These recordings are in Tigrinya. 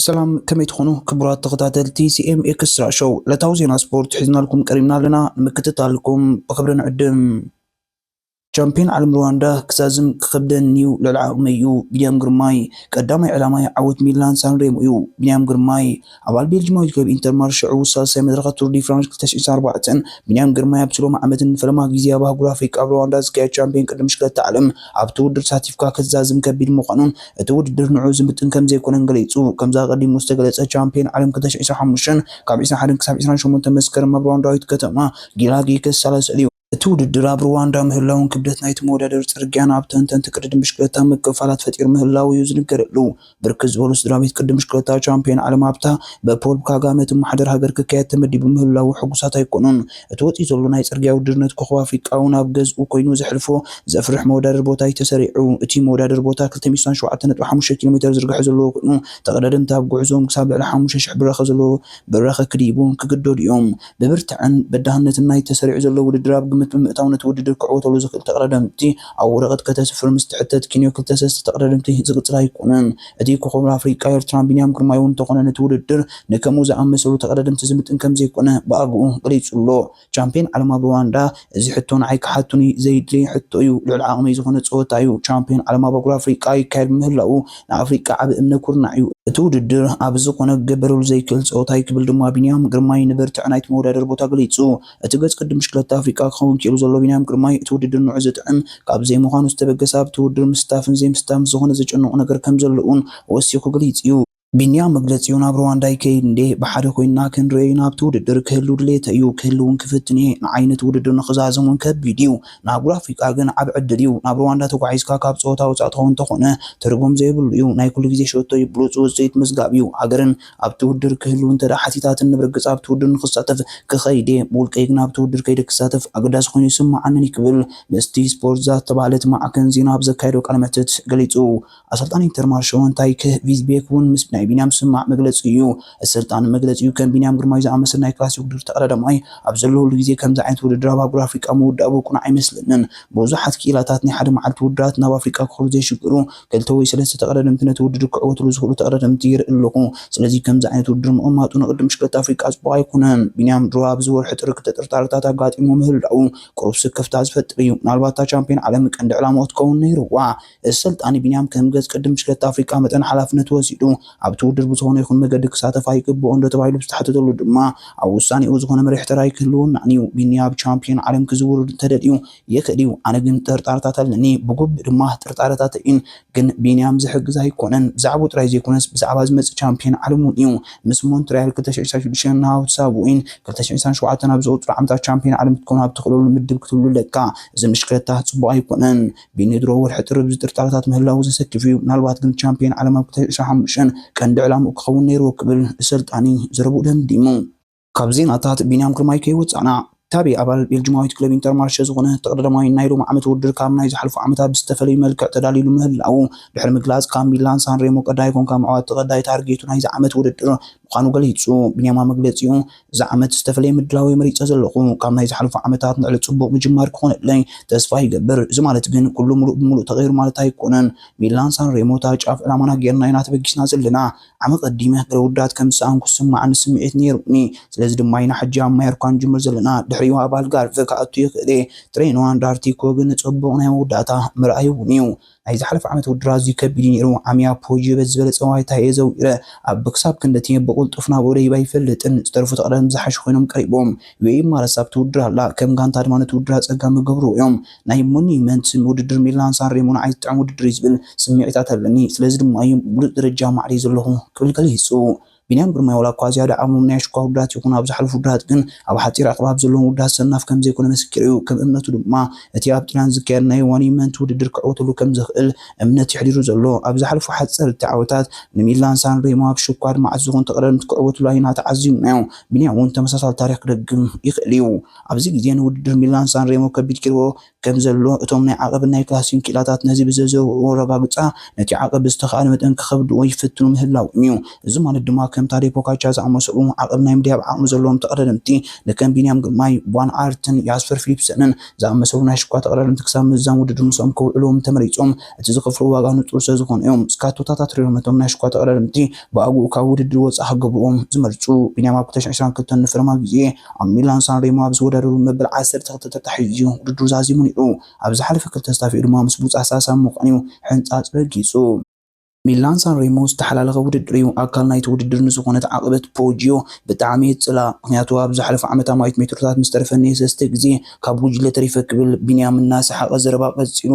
ሰላም ከመይ ትኾኑ ክቡራት ተኸታተልቲ ሲኤም ኤክስትራ ሾው ዕለታዊ ዜና ስፖርት ሒዝናልኩም ቀሪብና ኣለና ንምክትታልኩም ብክብሪ ንዕድም ቻምፕዮን ዓለም ሩዋንዳ ክዛዝም ክኸብደኒ'ዩ ልዕሊ ዓቕመይ'ዩ ቢንያም ግርማይ ቀዳማይ ዕላማይ ዓወት ሚላን ሳንሬሞ'ዩ ቢንያም ግርማይ ኣባል ቤልጂማዊት ክለብ ኢንተርማር ሽዑ ሳልሳይ መድረኸ ቱር ዲ ፍራንስ ክልተ ሽሕን ኣርባዕተን ቢንያም ግርማይ ኣብቲ ሎሚ ዓመት ንፈለማ ግዜ ኣብ ኣህጉር ኣፍሪቃ ኣብ ሩዋንዳ ዝካየድ ቻምፕዮን ቅድድም ብሽክለታ ዓለም ኣብቲ ውድድር ተሳቲፍካ ክትዛዝም ከቢድ ምዃኑን እቲ ውድድር ንዕኡ ዝምጥን ከምዘይኮነን ገሊጹ ከምዚ ኣቐዲሙ ዝተገለጸ ቻምፕዮን ዓለም ክልተ ሽሕን ዕስራን ሓሙሽተን ካብ ዕስራን ሓደን ክሳብ ዕስራን ሸሞንተን መስከረም ኣብ ሩዋንዳዊት ከተማ ጊላጊ ክሳለስ'ዩ። እቲ ውድድር ኣብ ሩዋንዳ ምህላዉን ክብደት ናይቲ መወዳደሪ ጽርግያን ኣብ ተንተንቲ ቅድድም ብሽክለታ ምክፍፋላት ፈጢሩ ምህላዉ እዩ ዝንገረሉ። ብርክት ዝበሉ ስድራቤት ቅድድም ብሽክለታ ቻምፕዮን ዓለም ኣብታ ብፖል ካጋመ እትመሓደር ሃገር ክካየድ ተመዲቡ ምህላዉ ሕጉሳት ኣይኮኑን። እቲ ወጺኡ ዘሎ ናይ ጽርግያ ውድድር ነቲ ኮኾብ ኣፍሪቃ'ውን ኣብ ገዝኡ ኮይኑ ዘሕልፎ ዘፍርሕ መወዳደሪ ቦታ እዩ ተሰሪዑ። እቲ መወዳደሪ ቦታ ክልተ ሚእቲ ስሳን ሸውዓተን ነጥቢ ሓሙሽተ ኪሎሜተር ዝርግሐ ዘለዎ ኮይኑ ተቐዳደምቲ ኣብ ጉዕዞኦም ክሳብ ልዕሊ ሓሙሽተ ሽሕ ብራኸ ዘለዎ ብራኸ ክድይቡ ክግደዱ እዮም። ብብርትዐን በዳህነትን ናይቲ ተሰሪዑ ዘሎ ውድድር ኣብ ግምት ብምእታው ነቲ ውድድር ክዕወተሉ ዝኽእል ተቕዳዳምቲ ኣብ ወረቐት ከተስፍር ምስ ትሕተት ኪንዮ ክልተ ሰስተ ተቕዳደምቲ ዝቕጽር ኣይኮነን። እቲ ኮኾብ ኣፍሪቃ ኤርትራን ቢንያም ግርማይ'ውን እንተኾነ ነቲ ውድድር ንከምኡ ዝኣመሰሉ ተቐዳደምቲ ዝምጥን ከምዘይኮነ ብኣግኡ ገሊጹ'ሎ። ቻምፕየን ዓለም ኣብ ሩዋንዳ፣ እዚ ሕቶ ንዓይ ክሓቱኒ ዘይድለይ ሕቶ እዩ። ልዑል ዓቕመይ ዝኾነ ፀወታ እዩ። ቻምፒዮን ዓለም ኣብ ኣህጉር ኣፍሪቃ ይካየድ ብምህላዉ ንኣፍሪቃ ዓቢ እምነ ኩርናዕ እዩ። እቲ ውድድር ኣብ ዝኾነ ክገበረሉ ዘይክእል ፀወታ እዩ ክብል ድማ ቢንያም ግርማይ ንብርትዐ ናይቲ መወዳደሪ ቦታ ገሊፁ። እቲ ገፅ ቅድም ብሽክለታ ኣፍሪቃ ክኸውን ክኢሉ ዘሎ ቢንያም ግርማይ እቲ ውድድር ንዑዑ ዘጥዕም ካብ ዘይምዃኑ ዝተበገሰ ኣብቲ ውድድር ምስታፍን ዘይምስታፍን ምስ ዝኾነ ዘጨንቖ ነገር ከምዘሎ እውን ወሲኹ ገሊፁ እዩ። ቢንያም መግለጺኡ ናብ ሩዋንዳ ይከይድ እንድየ፣ ብሓደ ኮይንና ክንርእዮ ኢና፣ ኣብቲ ውድድር ክህሉ ድሌተይ እዩ፣ ክህሉ እውን ክፍትን እየ፣ ንዓይ ነቲ ውድድር ንኽዛዝም እውን ከቢድ እዩ፣ ንኣህጉር ኣፍሪቃ ግን ዓቢ ዕድል እዩ፣ ናብ ሩዋንዳ ተጓዒዝካ ካብ ጸወታ ወጻኢ ትኸውን እንተኾነ ትርጉም ዘይብሉ እዩ፣ ናይ ኩሉ ግዜ ሸቶይ ብሉጽ ውጽኢት ምዝጋብ እዩ፣ ሃገርን ኣብቲ ውድድር ክህሉ እንተድኣ ሓቲታትኒ ብርግጽ ኣብቲ ውድድር ንኽሳተፍ ክኸይድ እየ፣ ብውልቀይ ግን ኣብቲ ውድድር ከይደ ክሳተፍ ኣገዳሲ ኮይኑ ኣይስምዓንን እዩ ክብል ምስቲ ስፖርት ዛት ዝተባህለት ማዕከን ዜና ኣብ ዘካየዶ ቃለ መሕትት ገሊጹ። ኣሰልጣኒ ኢንተርማርሾ እንታይክ ቪዝቤክ ውን ምስ ናይ ቢንያም ዝስማዕ መግለጺ እዩ። እቲ ኣሰልጣኒ መግለጺኡ ከም ቢንያም ግርማይ ዝኣመሰለ ናይ ክላሲክ ውድድር ተቐዳዳማይ ኣብ ዘለወሉ ግዜ ከምዚ ዓይነት ውድድር ኣብ ኣህጉር ኣፍሪቃ ምውዳቡ ቅኑዕ ኣይመስለንን። ብዙሓት ክኢላታት ናይ ሓደ መዓልቲ ውድድራት ናብ ኣፍሪቃ ክኸዱ ዘይሽግሩ ክልተ ወይ ሰለስተ ተቐዳደምቲ ነቲ ውድድር ክዕወትሉ ዝኽእሉ ተቐዳደምቲ ይርኢ ኣለኹ። ስለዚ ከምዚ ዓይነት ውድድር ምቕማጡ ንቅድድም ብሽክለታ ኣፍሪቃ ጽቡቕ ኣይኮነን። ቢንያም ድሮ ኣብዚ ወርሒ ጥሪ ክልተ ጥርጣረታት ኣጋጢምዎ ምህላዉ ቅሩብ ስክፍታ ዝፈጥር እዩ። ምናልባት እታ ቻምፕዮን ዓለም ቀንዲ ዕላማኡ ክትከውን ነይርዋ። ኣሰልጣኒ ቢንያም ከም ገጽ ቅድም ሽክለታ ኣፍሪቃ መጠን ሓላፍነት ወሲዱ ኣብቲ ውድድር ብዝኾነ ይኹን መገዲ ክሳተፍ ኣይግብኦንዶ ተባሂሉ ብዝተሓተተሉ ድማ ኣብ ውሳኔኡ ዝኾነ መሪሕ ተራ ኣይክህልወናን'ዩ። ቢኒ ኣብ ቻምፕዮን ዓለም ክዝውር እንተደልዩ ይኽእል'ዩ። ኣነ ግን ጥርጣረታት ኣለኒ። ብግቡእ ድማ ጥርጣረታተይን ግን ቢንያም ዝሕግዝ ኣይኮነን። ብዛዕብኡ ጥራይ ዘይኮነስ ብዛዕባ ዝመጽእ ቻምፕዮን ዓለም'ውን'ዩ። ምስ ሞንትርያል ክልተ ሽሕን ዕስራን ሽዱሽተን ናብ ሳብዌይን ክልተ ሽሕን ዕስራን ሸውዓተን ኣብ ዝቕጽሉ ዓመታት ቻምፕዮን ዓለም ክትከውን ኣብ ትኽእለሉ ምድብ ክትህሉ ኣለካ። እዚ ንሽክለታ ጽቡቕ ኣይኮነን። ብንድሮ ወርሒ ጥሪ ብዝጥርጣረታት ምህላዉ ዘሰክፍ እዩ፣ ምናልባት ግን ቻምፕየን ዓለም ኣብ ክልተ ሺሕ ዕስራን ሓሙሽተን ቀንዲ ዕላምኡ ክኸውን ነይርዎ ክብል ኣሰልጣኒ ዘረብኡ ደምዲሙ። ካብ ዜናታት ቢንያም ግርማይ ከይወጻእና፣ ታቤ ኣባል ቤልጅማዊት ክለብ ኢንተርማርሸ ዝኾነ ተቐዳዳማይ ናይ ሎሚ ዓመት ውድድር ካብ ናይ ዝሓልፉ ዓመታት ብዝተፈለዩ መልክዕ ተዳልዩሉ ምህላዉ ድሕሪ ምግላጽ ካብ ሚላን ሳንሬሞ ቀዳይ ኮንካ ምዕዋት ተቐዳይ ታርጌቱ ናይዚ ዓመት ውድድር ምዃኑ ገሊጹ። ቢንያም ኣብ መግለጺኡ፣ እዚ ዓመት ዝተፈለየ ምድላው'የ መሪጸ ዘለኹ። ካብ ናይ ዝሓለፉ ዓመታት ንልዕሊ ጽቡቕ ምጅማር ክኾነለይ ተስፋ ይገብር። እዚ ማለት ግን ኩሉ ምሉእ ብምሉእ ተቐይሩ ማለት ኣይኮነን። ሚላን ሳንሬሞ እታ ጫፍ ዕላማና ጌርና ኢና ተበጊስና ዘለና። ዓመት ቀዲመ ገለ ውድድራት ከም ዝሰኣንኩ ዝስመዓኒ ስምዒት ነይሩኒ። ስለዚ ድማ ኢና ሕጂ ኣብ ማዮርካ ንጅምር ዘለና። ድሕሪኡ ኣብ ኣልጋርቨ ክኣቱ ይኽእል'የ። ትሬኖ ኣንድ ኣርቲኮ ግን ጽቡቕ ናይ መወዳእታ መርኣይ'ውን እዩ። ናይ ዝሓለፈ ዓመት ውድድር ኣዝዩ ከቢድ እዩ ነይሩ፣ ዓሚያ ፖጂዮ በቲ ዝበለጸ ዋይታ እየ ዘዊረ፣ ኣብ ክሳብ ክንዲ እቲ ብቕልጡፍ ናብኡ ደይበ ኣይፈልጥን፣ ዝተረፉ ተቐዳደምቲ ዝሓሹ ኮይኖም ቀሪቦም፣ ዩኤኢ ማለትስ ኣብቲ ውድድር ኣላ፣ ከም ጋንታ ድማ ነቲ ውድድር ኣጸጋሚ ይገብርዎ እዮም፣ ናይ ሞንዩመንት ውድድር ሚላን ሳንሬሞ ንዓይ ዝጥዕም ውድድር እዩ ዝብል ስምዒታት ኣለኒ፣ ስለዚ ድማ እዩ ብሉጽ ደረጃ ማዕሪየ ዘለኹ ክብል ገሊጹ። ቢንያም ግርማይ ዋላ'ኳ ዝያዳ ዓቕሞም ናይ ኣሽኳ ውድባት ይኹን ኣብ ዝሓለፉ ውድባት ግን ኣብ ሓጺር ኣቕራብ ዘለዎም ውድባት ሰናፍ ከምዘይኮነ መሰኪሩ'ዩ። ከም እምነቱ ድማ እቲ ኣብ ጢልያን ዝካየድ ናይ ዋን ኢምንት ውድድር ክዕወተሉ ከምዝኽእል እምነት'ዩ ኣሕዲሩ ዘሎ። ኣብ ዝሓለፉ ሓጸርቲ ዓወታት ንሚላን ሳንሬሞ ኣብ ሽኳ ኣድማዕቲ ዝኾኑ ተቐዳደምቲ ክዕወትሉ ኣዩና ተዓዚብናዮ። ቢንያም'ውን ተመሳሳሊ ታሪኽ ክደግም ይኽእል'ዩ። ኣብዚ ግዜ ንውድድር ሚላን ሳንሬሞ ከቢድ ጌርዎ ከም ዘሎ እቶም ናይ ዓቐብን ናይ ክላሲን ክኢላታት ነዚ ብዘዘውዕዎ ኣረጋግጻ ነቲ ዓቐብ ብዝተኻእለ መጠን ክኸብድዎ ይፍትኑ ምህላዎም እዩ። እዚ ማለት ድማ ከም ታዴ ፖካቻ ዝኣመሰሉ ዓቐብ ናይ ምድያብ ዓቕሚ ዘለዎም ተቐዳደምቲ ንከም ቢንያም ግርማይ፣ ቫን ኣርትን ያስፐር ፊሊፕሰንን ዝኣመሰሉ ናይ ሽኳ ተቐዳደምቲ ክሳብ ምዝዛም ውድድር ምስኦም ክውዕሉ ተመሪጾም። እቲ ዝኸፍልዎ ዋጋ ንጹር ስለዝኾነ እዮም ስካቶታት ኣትሪሮም ነቶም ናይ ሽኳ ተቐዳደምቲ ብኣግኡ ካብ ውድድር ወጻኢ ክገብርዎም ዝመርጹ ቢንያም ኣብ ክልተ ሽሕን ዕስራን ክልተን ንፈለማ ግዜ ኣብ ሚላን ሳንሬሞ ኣብ ዝወዳደረሉ መበል ዓሰርተ ክልተ ተታሒዙ እዩ ውድድሩ ዛዚሙ ነይሩ። ኣብ ዝሓለፈ ክልተ ስታፊኡ ድማ ምስ ብሉጻት ሳልሳይ ብምዃን እዩ ሕንጻጽ ረጊጹ። ሚላን ሳንሬሞ ዝተሓላለኸ ውድድር እዩ፣ ኣካል ናይቲ ውድድር ንዝኾነት ዓቐበት ፖጂዮ ብጣዕሚ እየ ዝጽልኣ፣ ምኽንያቱ ኣብ ዝሓለፈ ዓመት ኣማኢት ሜትሮታት ምስ ተረፈኒ ሰስተ ግዜ ካብ ጉጅለ ተሪፈ ክብል ቢንያም እናሰሓቐ ዘረባ ቀጺሉ።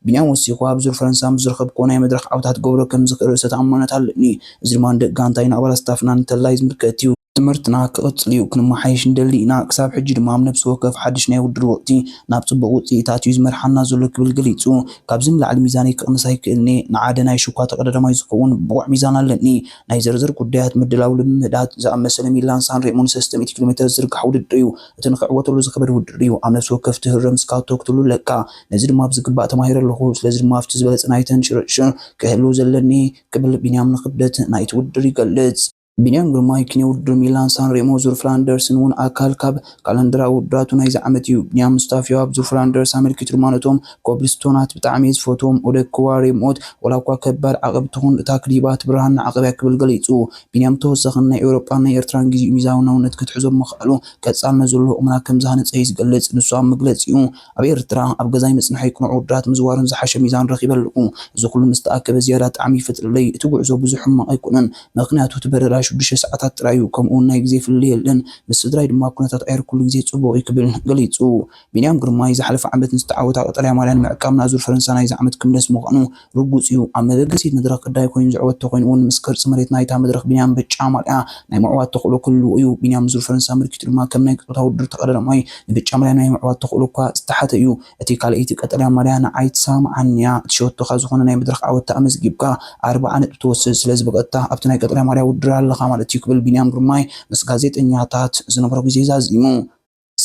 ቢንያም ወሲኹ፣ ኣብ ዙር ፈረንሳ ምስ ዝረኸብክዎ ናይ መድረኽ ዓወታት ክገብሮ ከም ዝኽእል ርእሰ ተኣማንነት ኣለኒ። እዚ ድማ ንደቂ ጋንታይን ንኣባላት ስታፍናን እንተላይ ዝምልከት'ዩ። ትምህርትና ክቕጽል'ዩ፣ ክንመሓየሽ ንደሊ ኢና፣ ክሳብ ሕጂ ድማ ኣብ ነብሲ ወከፍ ሓድሽ ናይ ውድድር ወቕቲ ናብ ጽቡቕ ውጽኢታት'ዩ ዝመርሓና ዘሎ ክብል ገሊጹ። ካብዚ ንላዕሊ ሚዛነይ ከቕንስ ኣይክእልን'የ፣ ንዓደ ናይ ሽኳ ተቐዳዳማይ ዝኸውን ብቑዕ ሚዛን ኣለኒ። ናይ ዘርዘር ጉዳያት፣ ምድላው ልምምዳት፣ ዝኣመሰለ ሚላን ሳን ሬሞን ሰስተ ሚእቲ ኪሎሜተር ዝዝርጋሕ ውድድር'ዩ። እቲ ንኽዕወተሉ ዝኸበድ ውድድር'ዩ፣ ኣብ ነብሲ ወከፍ ትህርም ስካቶ ክትህሉ ኣለካ። ነዚ ድማ ብዝግባእ ተማሂረ ኣለኹ፣ ስለዚ ድማ ኣብቲ ዝበለጸ ናይ ተንሽርሽር ክህሉ ዘለኒ ክብል ቢንያም ንክብደት ናይቲ ውድድር ይገልጽ። ቢንያም ግርማይ፣ ኪኔ ውድድር ሚላን ሳንሬሞ ዙር ፍላንደርስን እውን ኣካል ካብ ካላንደራዊ ውድድራቱ ናይዚ ዓመት እዩ። ቢንያም ሙስታፊዮ ኣብ ዙር ፍላንደርስ ኣመልኪቱ ድማ ነቶም ኮብልስቶናት ብጣዕሚ እየ ዝፈትዎም፣ ኦደክዋ ሬሞት ዋላኳ ከባድ ዓቐብ ትኹን እታ ክሊባት ብርሃን ንዓቐብ እያ ክብል ገሊጹ። ቢንያም ብተወሳኺ ንናይ ኤውሮጳን ናይ ኤርትራን ግዜኡ ሚዛናውነት ከትሕዞ ብምኽኣሉ ቀጻልነት ዘለዎ ቁመና ከምዝሃነጸ እዩ ዝገልጽ። ንሱ ኣብ መግለጺኡ፣ ኣብ ኤርትራ ኣብ ገዛይ ምጽንሐይ ቅኑዕ ውድራት ምዝዋርን ዝሓሸ ሚዛን ረኺበ ኣለኹ። እዚ ኩሉ ምስ ተኣከበ ዝያዳ ጣዕሚ ይፈጥረለይ። እቲ ጉዕዞ ብዙሕ ሕማቕ ኣይኮነን። ምኽንያቱ እቲ በረራ ሽዱሽተ ሰዓታት ጥራይ እዩ፣ ከምኡ'ውን ናይ ግዜ ፍልልይ የለን። ምስ ስድራይ ድማ ኩነታት ኣየር ኩሉ ግዜ ጽቡቕ እዩ ክብል ገሊጹ። ቢንያም ግርማይ፣ ዝሓለፈ ዓመት ንዝተዓወታ ቀጠልያ ማልያ ንምዕቃብ ናዙር ፈረንሳ ናይዚ ዓመት ክምለስ ምዃኑ፣ ርጉጽ እዩ ኣብ መበገሲት መድረኽ ግዳይ ኮይኑ ዝዕወት ተኾይኑ እውን ምስ ቅርጺ መሬት ናይታ መድረኽ ቢንያም ብጫ ማልያ ናይ ምዕዋት ተኽእሎ ክህልዎ እዩ። ቢንያም ዙር ፈረንሳ ኣመልኪቱ ድማ ከም ናይ ጾታ ውድድር ተቐዳዳማይ ንብጫ ማልያ ናይ ምዕዋት ተኽእሎ እኳ ዝተሓተ እዩ። እቲ ካልኣይቲ ቀጠልያ ማልያ ንዓይ ትሰማምዓኒ እያ። እቲ ሸቶኻ ዝኾነ ናይ መድረኽ ዓወት ተኣመዝጊብካ ኣርብዓ ነጥቢ ትወስድ ስለ ዝበቐጥታ ኣብቲ ናይ ቀጠልያ ማልያ ውድድር ኣለኻ ማለት እዩ ክብል ቢንያም ግርማይ ምስ ጋዜጠኛታት ዝነበሮ ግዜ ዛዚሙ።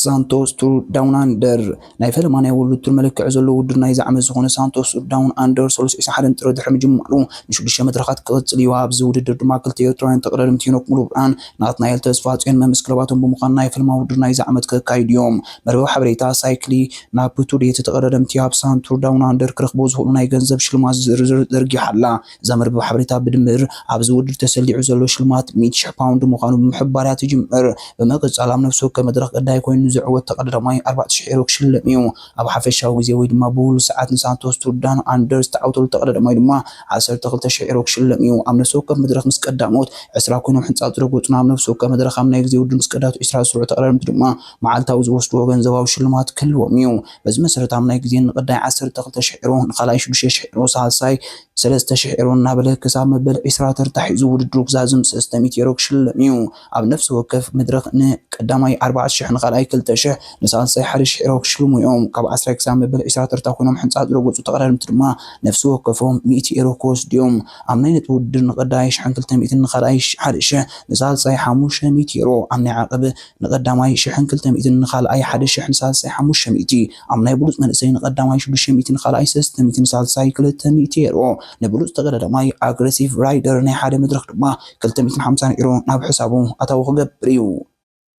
ሳንቶስ ቱር ዳውን ኣንደር ናይ ፈለማ ናይ ወሉ ቱር መለክዒ ዘለዎ ውድድር ናይዚ ዓመት ዝኾነ ሳንቶስ ቱር ዳውን ኣንደር ሰሉስ 21 ጥሪ ድሕሪ ምጅማሩ ንሽዱሽተ መድረኻት ክቕፅል እዩ። ኣብዚ ውድድር ድማ ክልተ ኤርትራውያን ተቐዳደም ቴኖክ ሙሉብርሃን ናትናኤል ተስፋጽዮን መምስ ክለባቶም ብምዃን ናይ ፈለማ ውድድር ናይዚ ዓመት ከካይዱ እዮም። መርበብ ሓበሬታ ሳይክሊ ናብ ቱር ዴቲ ተቐዳደምቲ ኣብ ሳንቱር ዳውን ኣንደር ክረኽቦ ዝኽእሉ ናይ ገንዘብ ሽልማት ዝርዝር ዘርጊሓ ኣላ። ዘመርብብ ሓበሬታ ብድምር ኣብዚ ውድድር ተሰሊዑ ዘሎ ሽልማት ሚእቲ ሽሕ ፓውንድ ምዃኑ ብምሕባር እያ ትጅምር። ብምቅጻል ኣብ ነፍሲ ወከፍ መድረኽ ቀዳይ ኮይኑ ንዝዕወት ተቀዳዳማይ ኣርባዕተ ሽሕ ኤሮ ክሽለም እዩ። ኣብ ሓፈሻዊ ግዜ ወይ ድማ ብውሉድ ሰዓት ንሳንቶስ ቱርዳን ኣንደርስ ዝተዓውተሉ ተቀዳዳማይ ድማ ዓሰርተ ክልተ ሽሕ ኤሮ ክሽለም እዩ። ኣብ ነፍሲ ወከፍ መድረኽ ምስ ቀዳሞት ዕስራ ኮይኖም ሕንጻጽ ዝረገጹን ኣብ ነፍሲ ወከፍ መድረኽ ኣብ ናይ ግዜ ውድድር ምስ ቀዳሞት ዕስራ ዝስርዑ ተቀዳደምቲ ድማ መዓልታዊ ዝወስድዎ ገንዘባዊ ሽልማት ክህልዎም እዩ። በዚ መሰረት ኣብ ናይ ግዜ ንቐዳይ ዓሰርተ ክልተ ሽሕ ዩሮ፣ ንኻልኣይ ሽዱሽተ ሽሕ ዩሮ፣ ሳልሳይ ሰለስተ ሽሕ ዩሮ እናበለ ክሳብ መበል ዕስራ ተርታ ሒዙ ውድድሩ ክዛዝም ሰስተ ሚእቲ ዩሮ ክሽለም እዩ። ኣብ ነፍሲ ወከፍ መድረኽ ን ቀዳማይ ኣርባዕተ ሽሕ፣ ንኻልኣይ ክልተ ሽሕ፣ ንሳልሳይ ሓደ ሽሕ ዩሮ ክሽልሙ እዮም። ካብ ዓስራይ ክሳብ መበል ዕስራ ተርታ ኮይኖም ሕንጻጽ ዝረገጹ ተቐዳደምቲ ድማ ነፍሲ ወከፎም ሚእቲ ዩሮ ክወስዱ እዮም። ኣብ ናይ ነጥቢ ውድድር ንቐዳይ ሽሕን ክልተ ሚእትን፣ ንኻልኣይ ሓደ ሽሕ፣ ንሳልሳይ ሓሙሽተ ሚእቲ ዩሮ ኣብ ናይ ዓቐብ ንቐዳማይ ሽሕን ክልተ ሚእትን ንኻልኣይ ሓደ ሽሕ ንሳልሳይ ሓሙሽተ ሚእቲ ኣብ ናይ ብሉጽ መንእሰይ ንቐዳማይ ሽዱሽተ ሚእቲ ንኻልኣይ ሰለስተ ሚእቲ ንሳልሳይ ክልተ ሚእቲ ኤሮ ንብሉጽ ተጋዳዳማይ ኣግረሲቭ ራይደር ናይ ሓደ መድረኽ ድማ ክልተ ሚእትን ሓምሳን ኤሮ ናብ ሕሳቡ ኣታዊ ክገብር እዩ።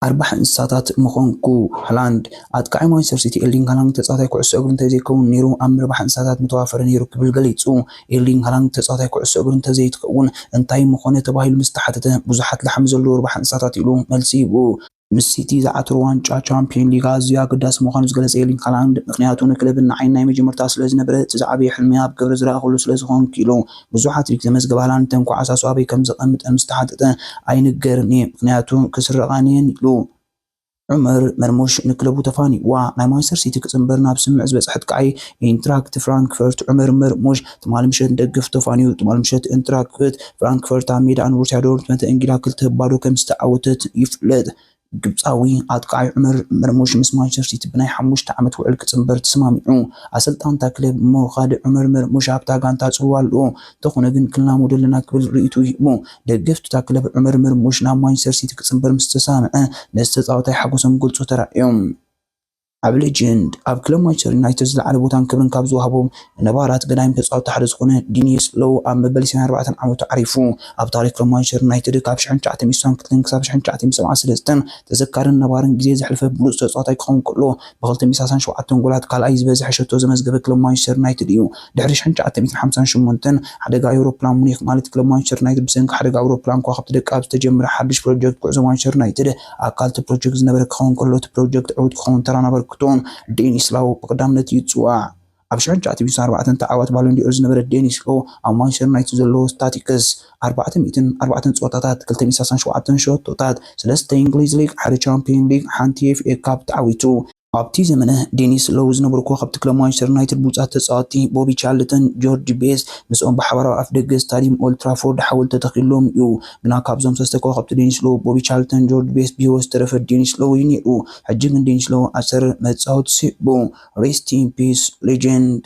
ኣርባሒ እንስሳታት ምኾንኩ። ሃላንድ፣ ኣጥቃዓይ ማንቸስተር ሲቲ ኤርሊንግ ሃላንድ ተጻዋታይ ኩዕሶ እግሪ እንተዘይከውን ነይሩ ኣብ ምርባሕ እንስሳታት ምተዋፈረ ነይሩ ክብል ገሊጹ። ኤርሊንግ ሃላንድ ተጻዋታይ ኩዕሶ እግሪ እንተዘይትከውን እንታይ ምኾነ ተባሂሉ ምስ ተሓተተ፣ ብዙሓት ላሕሚ ዘለዎ ርባሕ እንስሳታት ኢሉ መልሲ ሂቡ። ምስ ሲቲ ዝዓተሮ ዋንጫ ቻምፕዮን ሊግ ኣዝዩ ኣገዳሲ ምዃኑ ዝገለጸ ኤርሊንግ ሃላንድ፣ ምኽንያቱ ንክለብን ንዓይን ናይ መጀመርታ ስለዝነበረ፣ እቲ ዝዓበየ ሕልመይ ኣብ ግብሪ ዝረኣኹሉ ስለዝኾንኩ ኢሉ። ብዙሕ ሃትሪክ ዘመዝገበ ሃላንድ ተንኳዓሳሱ ኣበይ ከምዘቐምጠን ምስ ተሓተተ፣ ኣይንገርን'የ፣ ምኽንያቱ ክስረቓን'የን ኢሉ። ዑመር መርሙሽ ንክለቡ ተፋኒዩዋ ናይ ማንቸስተር ሲቲ ክጽንበር ናብ ስምምዕ ዝበጽሐት ቀዓይ ኢንትራክት ፍራንክፈርት ዑመር መርሙሽ ትማሊ ምሸት ንደገፍቱ ተፋንዩ። ትማሊ ምሸት ኢንትራክት ፍራንክፈርት ኣብ ሜዳ ንቦሩስያ ዶርትመንድ ተእንጊዳ ክልተ ባዶ ከምዝተዓወተት ይፍለጥ። ግብጻዊ ኣጥቃዓይ ዑመር መርሙሽ ምስ ማንቸስተር ሲቲ ብናይ ሓሙሽተ ዓመት ውዕል ክጽንበር ተሰማሚዑ። ኣሰልጣኒ እታ ክለብ ሞኻሊ ዑመር መርሙሽ ኣብታ ጋንታ ጽልዋ ኣለዎ። እንተኾነ ግን ክንላመዶ ኣለና ክብል ርእይትኡ ሂቡ። ደገፍቲ'ታ ክለብ ዑመር መርሙሽ ናብ ማንቸስተር ሲቲ ክጽንበር ምስ ተሰማምዐ ነቲ ተጻዋታይ ሓጎሶም ክገልጹ ተራእዮም። ኣብ ሌጀንድ ኣብ ክለብ ማንቸስተር ዩናይትድ ዝለዓለ ቦታን ክብርን ካብ ዝወሃቦም ነባራት ገዳይም ተጻወትቲ ሓደ ዝኾነ ዲኒስ ሎው ኣብ መበል ሰማንያን ኣርባዕተን ዓመቱ ዓሪፉ። ኣብ ታሪኽ ክለብ ማንቸስተር ዩናይትድ ካብ ሽሕን ትሽዓተ ሚእቲ ሰባን ክልተን ክሳብ ሽሕን ትሽዓተ ሚእቲ ሰብዓን ሰለስተን ተዘካርን ነባርን ግዜ ዘሕለፈ ብሉጽ ተጻዋታይ ክኸውን ከሎ፣ ብክልተ ሚእቲ ሳሳን ሸውዓተን ጎላት ካልኣይ ዝበዝሐ ሸቶ ዘመዝገበ ክለብ ማንቸስተር ዩናይትድ እዩ። ድሕሪ ሽሕን ትሽዓተ ሚእትን ሓምሳን ሸሞንተን ሓደጋ ኣዩሮፕላን ሙኒክ ማለት ክለብ ማንቸስተር ዩናይትድ ብሰንኪ ሓደጋ ኣውሮፕላን ከዋኽብቲ ደቃብ ዝተጀመረ ሓድሽ ፕሮጀክት ጉዕዞ ማንቸስተር ዩናይትድ ኣካል እቲ ፕሮጀክት ዝነበረ ክኸውን ከሎ እቲ ፕሮጀክት ዕውት ክኸውን ተራን ኣበርክቶን ደኒስ ላው ብቐዳምነት ይጽዋዕ። ኣብ ሽሕንሻዓተ ሚእትን ኣርባዕተን ተዓዋቲ ባሎን ዲ'ኦር ዝነበረ ዴኒስ ሎ፣ ኣብ ማንቸስተር ዩናይትድ ዘለዎ ስታቲክስ፣ ኣርባዕተ ሚእትን ኣርባዕተን ጸወታታት፣ ክልተ ሚእትን ሳሳን ሸውዓተን ሸቶታት፣ ሰለስተ የእንግሊዝ ሊግ፣ ሓደ ቻምፕዮን ሊግ፣ ሓንቲ ኤፍኤ ካፕ ተዓዊቱ። ኣብቲ ዘመነ ዴኒስ ሎው ዝነበሩ ኮኸብቲ ክለብ ማንቸስተር ዩናይትድ ብሉጻት ተጻወትቲ ቦቢ ቻርልተን፣ ጆርጅ ቤስት፣ ምስኦም ብሓባር ኣብ ኣፍደገ ስታድዩም ኦልድ ትራፎርድ ሓወልቲ ተተኺሉሎም እዩ። ግና ካብዞም ሰለስተ ኮኸብቲ ዴኒስ ሎው፣ ቦቢ ቻርልተን፣ ጆርጅ ቤስት ብህይወት ዝተረፈ ዴኒስ ሎው እዩ ነይሩ። ሕጂ ግን ዴኒስ ሎው ኣብ ሰር መጻወቲ ስዒቡ። Rest in Peace Legend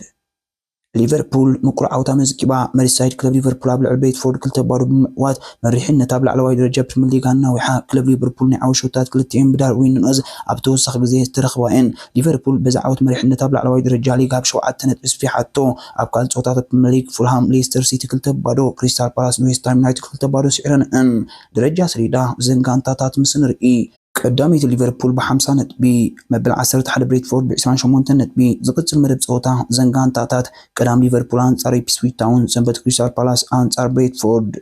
ሊቨርፑል ምቁር ዓወት ኣመዝጊባ። መሪሳይድ ክለብ ሊቨርፑል ኣብ ልዕሊ ብሬትፎርድ ክልተ ባዶ ብምዕዋት መሪሕነት ኣብ ላዕለዋይ ደረጃ ፕሪምየር ሊግ ኣናዊሓ። ክለብ ሊቨርፑል ናይ ዓወት ሸቶታት ክልቲኤን ብዳርዊን ኑነዝ ኣብ ተወሳኺ ግዜ ዝተረኽባ እየን። ሊቨርፑል በዚ ዓወት መሪሕነት ኣብ ላዕለዋይ ደረጃ ሊግ ብ ሸውዓተ ነጥቢ ኣስፊሓቶ። ኣብ ካልእ ጸወታታት ፕሪምየር ሊግ ፉልሃም ሌስተር ሲቲ ክልተ ብ ባዶ፣ ክሪስታል ፓላስ ንዌስትሃም ዩናይትድ ክልተ ብ ባዶ ስዒረን እየን። ደረጃ ሰሌዳ እዘን ጋንታታት ምስ ንርኢ። ቀዳመይቲ ሊቨርፑል ብ ሓምሳ ነጥቢ፣ መበል ዓሰርተ ሓደ ብሬትፎርድ ብ ዕስራን ሸሞንተን ነጥቢ፣ ዝቕጽል መደብ ጸወታ እዘን ጋንታታት፣ ቀዳም ሊቨርፑል ኣንጻር ኢፕስዊች ታውን፣ ሰንበት ክሪስታል ፓላስ ኣንጻር ብሬትፎርድ።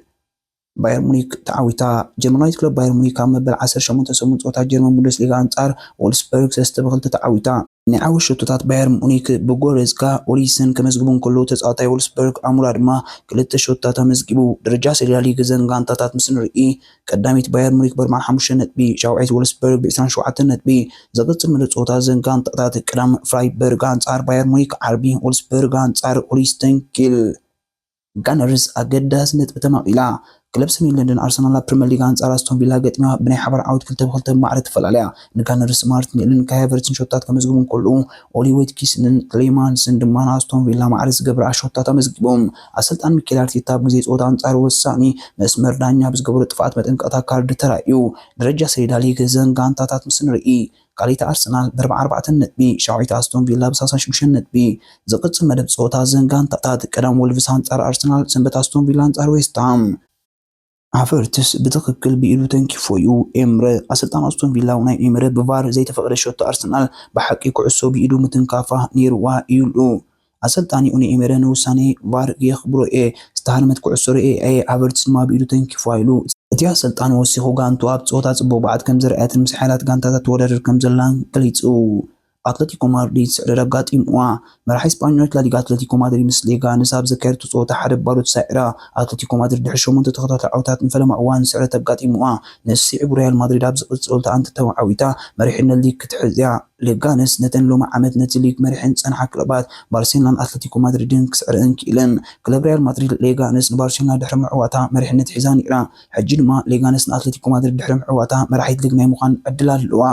ባየር ሙኒክ ተዓዊታ። ጀርመናዊት ክለብ ባየር ሙኒክ ኣብ መበል ዓሰርተ ሸሞንተ ሰሙን ጸወታ ጀርመን ቡንደስሊጋ ኣንጻር ዎልፍስበርግ ሰለስተ ብ ክልተ ተዓዊታ። ናይ ዓወት ሸቶታት ባየር ሙኒክ ብጎረዝካ ኦሊሰን ከመዝግቡ እንከለዉ ተጻዋታይ ዎልፍስበርግ ኣሙራ ድማ ክልተ ሸቶታት ኣመዝጊቡ። ደረጃ ሰሌዳ ሊግ እዘን ጋንታታት ምስ ንርኢ ቀዳመይቲ ባየር ሙኒክ ብኣርብዓን ሓሙሽተን ነጥቢ፣ ሻውዓይቲ ዎልፍስበርግ ብዕስራን ሸውዓተን ነጥቢ። ዝቕጽል መደብ ጸወታ እዘን ጋንታታት ቀዳም ፍራይበርግ ኣንጻር ባየር ሙኒክ፣ ዓርቢ ዎልፍስበርግ ኣንጻር ሆልስቴን ኪል። ጋነርስ ኣገዳሲ ነጥቢ ተማቒላ። ክለብ ሰሜን ለንደን ኣርሰናል ኣብ ፕሪመር ሊግ ኣንጻር ኣስቶን ቪላ ገጢማ ብናይ ሓባር ዓወት ክልተ ብ ክልተ ብማዕረ ትፈላለያ። ንጋነርስ ማርቲኔልን ካይ ሃቨርትዝን ሸቶታት ከመዝግቡ እንከለዉ፣ ኦሊ ዌትኪስንን ትሌማንስን ድማ ንኣስቶን ቪላ ማዕረ ዝገብራ ሸቶታት ኣመዝጊቦም። ኣሰልጣኒ ሚኬል ኣርቴታ ኣብ ግዜ ጸወታ ኣንጻር ወሳኒ መስመር ዳኛ ብዝገበሮ ጥፍኣት መጠንቀቕታ ካርድ ተራእዩ። ደረጃ ሰሌዳ ሊግ እዘን ጋንታታት ምስ ንርኢ። ካልኣይቲ ኣርሰናል ብ ኣርባዓተ ነጥቢ፣ ሻውዓይቲ ኣስቶን ቪላ ብ ሰላሳ ሽዱሽተ ነጥቢ። ዝቕጽል መደብ ጸወታ እዘን ጋንታታት፣ ቀዳም ወልቭስ ኣንጻር ኣርሰናል፣ ሰንበት ኣስቶን ቪላ ኣንጻር ዌስትሃም። ሃቨርትስ ብትኽክል ብኢዱ ተንኪፎ'ዩ ኤምረ። ኣሰልጣኒ ኣስቶን ቪላ ኡናይ ኤምረ ብቫር ዘይተፈቕደ ሸቶ ኣርሰናል ብሓቂ ኩዕሶ ብኢዱ ምትንካፋ ነይሩዋ ኢሉ። ኣሰልጣኒ ኡናይ ኤመረ ንውሳኔ ቫር የኽብሮ'የ፣ ዝተሃርመት ኩዕሶ ርእየያ'የ፣ ሃቨርትዝ ድማ ብኢዱ ተንኪፉዋ ኢሉ። እቲ ኣሰልጣኒ ወሲኹ ጋንትኡ ኣብ ጸወታ ጽቡቕ ብቕዓት ከምዘርኣየትን ምስ ሓያላት ጋንታታት ትወዳደር ከምዘላን ገሊጹ። ኣትለቲኮ ማድሪድ ስዕረት ኣጋጢምዋ። መራሒ ስጳኞች ላሊጋ ኣትለቲኮ ማድሪድ ምስ ሌጋነስ ኣብ ዘካየደቶ ጸወታ ሓደ ብ ባዶ ተሳዒራ። ኣትለቲኮ ማድሪድ ድሕሪ ሸሞንተ ተኸታታሊ ዓወታት ንፈለማ እዋን ስዕረት ኣጋጢምዋ። ንሱ ስዒቡ ሪያል ማድሪድ ኣብ ዝቕጽል ጸወታ ኣንተተዓዊታ መሪሕነት ሊግ ክትሕዝ'ያ። ለጋነስ ነተን ሎሚ ዓመት ነቲ ሊግ መሪሐን ዝጸንሓ ክለባት ባርሴሎናን ኣትለቲኮ ማድሪድን ክስዕረን ክኢለን። ክለብ ሪያል ማድሪድ ሌጋነስ ንባርሴሎና ድሕሪ ምዕዋታ መሪሕነት ሒዛ ነይራ። ሕጂ ድማ ሌጋነስ ንኣትለቲኮ ማድሪድ ድሕሪ ምዕዋታ መራሒት ሊግ ናይ ምዃን ዕድል ኣለዋ።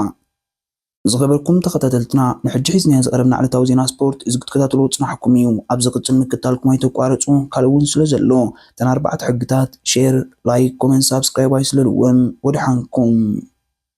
ዝኸበርኩም ተኸታተልትና ንሕጂ ሒዝናዮ ዝቐረብና ዕለታዊ ዜና ስፖርት እዚ ክትከታተልዎ ጽናሕኩም እዩ። ኣብ ዝቕጽል ምክታልኩም ኣይተቋርጹ ካልእ ውን ስለ ዘሎ። እተን ኣርባዕተ ሕግታት፣ ሼር፣ ላይክ፣ ኮመንት፣ ሳብስክራይብ ኣይስለልወን። ወደሓንኩም።